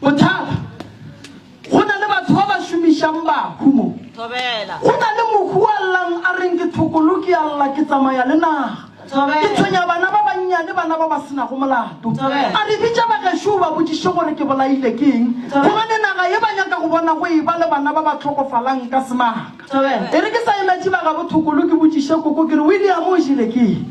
Bothata, Go na le batho ba ba šomišang bahu mo. Thobela. Go na le mohu a llang a reng ke thokolo, ke a lla, ke tsamaya le naga. Thobela. Ke tshwenya bana ba bannyane, bana ba ba senago molato. Thobela. A re bitša bagešo o ba botšiše gore ke bolaile ke eng, Thobela. gobane naga ye ba nyaka go bona go e ba le bana ba ba hlokofalang ka semaka. Thobela. E re ke sa emetše ba gabo thokolo ke botšiše koko ke re, William, o jele ke eng?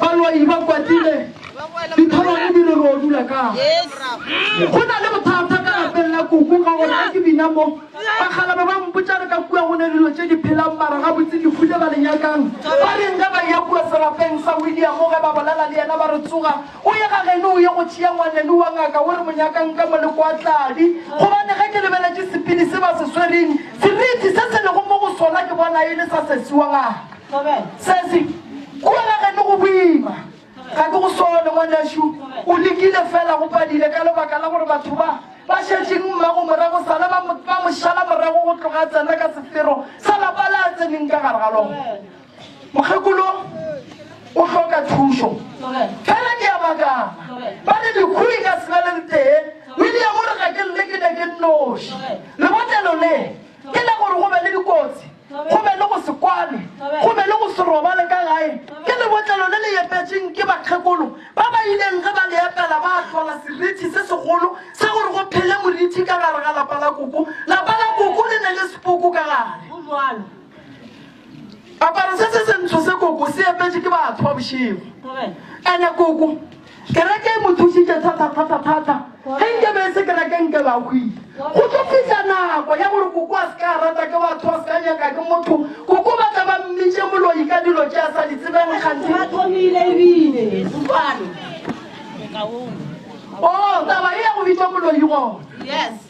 Balwai ba kwatile ditholwane di re ro dula kang. Go na le bothata ka lapeng la Koko ka gore ga ke bina mo, bakgalaba ba mpotša re ka kua go ne dilo tše di phelang mara gabotse ke fule ba le nyakang. Ba reng ge ba eya kua serapeng sa William ge ba bolela le yena ba re tsoga o ye ga geno o ye go tšea ngwaneno wa ngaka o re mo nyakang ka mo le kwa tladi gobane ge ke lebeletše sepini se ba se swereng seriti se se lego mo go sona ke bona e le sa sesi wa ngaka. Sesi, Kua la geno go boima. Ga ke go sole, ngwanešu. O lekile feela, go padile ka lebaka la gore batho ba ba šetšeng mmago morago sale ba mo, ba mo šala morago go tloga a tsena ka sefero sa lapa le a tseneng ka gare ga lona. Mokgekolo o hloka thušo. Fela ke a makala. Ba re lehu le ka se be le le tee. William o re ga ke lle ke ne ke nnoši. Lebotlelo le, ke la gore go be le dikotsi. go be le go se kwane, go be le go se robale ka gae, ke lebotlelo le le epetšeng ke bakgekolo ba ba ileng ge ba le epela ba ahlola serithi se segolo sa gore go phele morithi ka gare ga lapa la koko. Lapa la koko le ne le sepoko ka gare. Go bjalo. Aparo se se sentsho se koko se epetše ke batho ba bošego, ene koko. Kereke e mo thušitše thatathatathata. Ge nke be e se kereke nke ba hwile. Go tlo fihla nako ya gore koko a se ka a rata ke batho, a se ka nyaka ke motho, koko ba tla ba mmitše moloi ka dilo tše a sa di tsebeng gantsi. Ba thomile ebile Setswana. O, taba e ya go bitšwa moloi gona. Yes.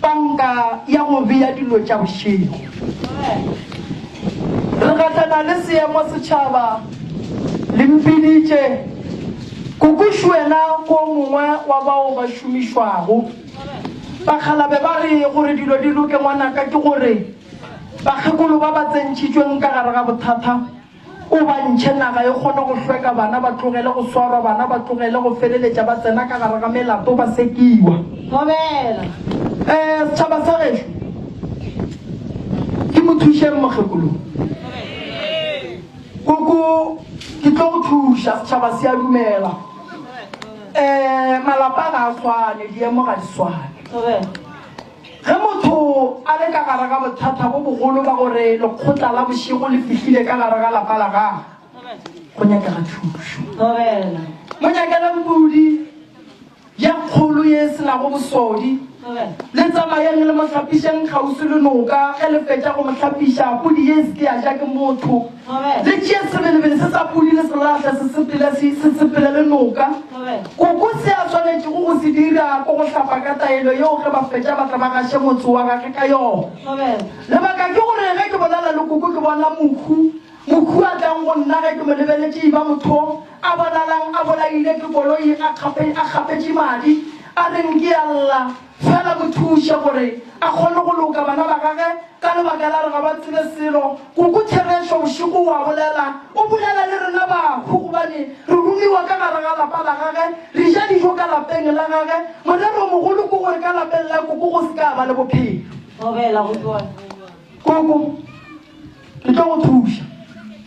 Panka ya go bea dilo tša bošego. Re gahlana le seemo setšhaba le mpiditše. Kokušu wena ke o mongwe wa bao ba šomišwago. Bakgalabe ba re gore dilo di loke ngwanaka ke gore bakgekolo ba ba tsentšhitšweng ka gare ga bothata O ba ntšhe naga e kgone go hlweka, bana ba tlogele go swarwa, bana ba tlogele go feleletša ba tsena ka gare ga melato ba sekiwa. Thobela. Ee, setšhaba sa gešo, ke mo thušeng mokgekolo. Koko, ke tlo go thuša. Setšhaba se a dumela. Ee, malapa ga a swane, diemo ga di swane. Thobela. Ge motho a le ka gare ga bothata bo bogolo ba gore lekgotla la bošego le fihlile ka gare ga lapa la gagwe, go nyakega thušo. Mo nyakele mpudi ye kgolo ye e se nago bosodi. Le tsamayeng le mo hlapišeng kgauswi le noka. Ge le fetša go mo hlapiša, pudi ye e se ke ya ja ke motho. Le tšee sebelebele se sa pudi le selahle se sepela, se, se sepela le noka. Koko se a swanetšego go se dira ko go hlapa ka taelo yeo ge ba fetša ba tla ba gaše motse wa gage ka yona. Lebaka ke gore ge ke bonana le koko ke bona mohu, mohu a tlang go nna ge ke mo lebeletše e ba motho a bonalang a bolaile ke koloi, a kgape, a kgapetše madi, a reng ke a lla. Fela mo thuše gore a kgone go loka bana ba gage ka lebaka la re ga ba tsebe selo. Koko Therešo bošego o a bolela. O bolela le rena bahu gobane re romiwa ka gare ga lapa la gage. Re ja dijo ka lapeng la gage. Morero o mogolo ke gore ka lapeng la koko go se ka ba le bophelo. Thobela, go tloga neng? Koko, re tlo go thuša.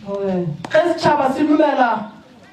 Thobela. Ge setšhaba se dumela.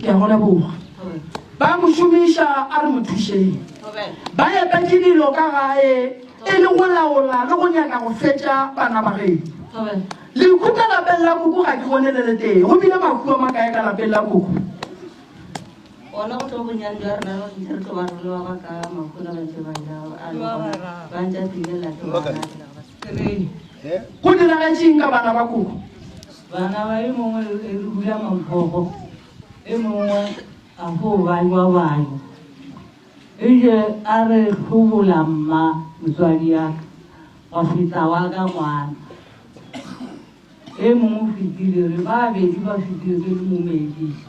ke a go leboga ba mo šomiša a re mo thušeng ba epetse dilo ka gae e le go laola le go nyaka go fetša bana ba geno leku ka lapeng la koko ga ke bone le le tee go bile makua ma kae ka lapeng la koko ona go tlo bonyane jwa rena re ntse re tlo ba rolowa ba ka makgona ba ntse ba ja ba ntse a tlile late ba go diragetseng ka bana ba koko Bana ba e mongwe e re bula mabogo, e mongwe a fo banywa banywa. E je a re hlobola mma motswadi ya ka, wa feta wa ka ngwana. E mongwe o fetile, re ba bedi ba fetile ke le momediša.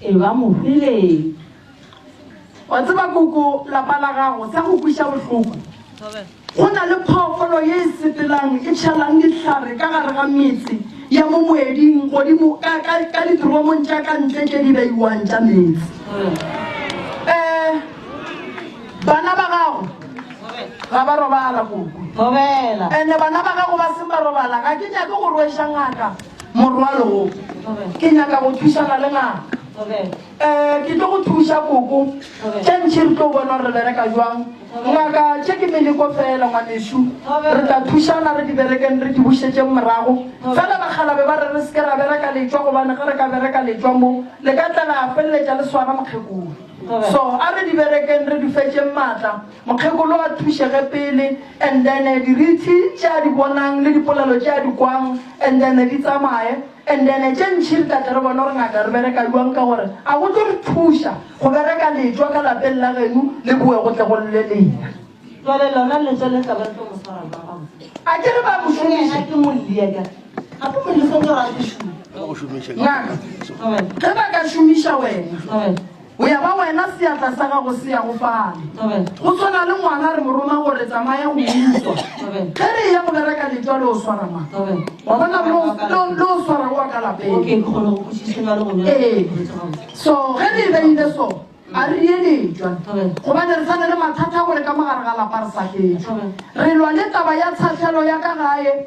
E ba mohwileng. Wa tseba koko, lapa la gago, sa go kwiša bohloko, go na le phoofolo ye e sepelang, e tšhalang dihlare ka gare ga metse ya mo moeding godimo ka, ka, ka ditromong tša ka ntle tše di beiwang tša meetse. Eh, bana ba gago ga ba robala, koko. Ene bana ba gago ba seng ba robala, ga ke nyake go rweša ngaka. Morwalo wo. Ke nyaka go thušana le ngaka. Eh, ke tlo go thuša koko. Tše ntši re tlo bona gore re bereka jwang. Ngaka, tše ke meleko fela ngwanešu. Re tla thušana re di berekeng re di bušetšeng morago. Fela bakgala be ba re re se ke ra bereka letšwa gobane ge re ka bereka letšwa mo le ka tla la feleletša le swara mokgekolo. So a re di berekeng re di fetšeng matla. Mokgekolo a thušege pele and then dirithi tše a di bonang le dipolelo tše a di kwang and then di tsamaye and then tše ntši re tla tle re bone gore ngaka re bereka bjang ka gore a go tlo re thuša go bereka letšwa ka lapeng la genu le boe go tle go lle lena. Jwale lona letšwa le tla ba le tlo mo swara bjang ga botse? A ke re ba mo šomiše? Ke mo lie ka gape mo lie sentse gore a ke šume. Ngaka ge ba ka šomiša wena. O ya ba wena, seatla sa gago se ya go fale. Go swana le ngwana re mo roma gore tsamaya go utswa. Ge re eya go bereka letwa le o swara ma. Wa bona le o swara go wa ka lapeng. Ee, so ge re e beile so, a re ye letwa. Gobane re sane le mathata gore ka mogare ga lapa re sa fetšwe. Re lwa le taba ya tshahlelo ya ka gae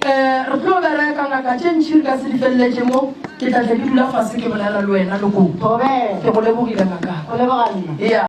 Re tlo bereka, ngaka tše ntši re ka se di feleletše mo. Ke tla tle ke dula fase ke bolela le wena, Lokoto. Ke go lebogile, ngaka. Go leboga nna.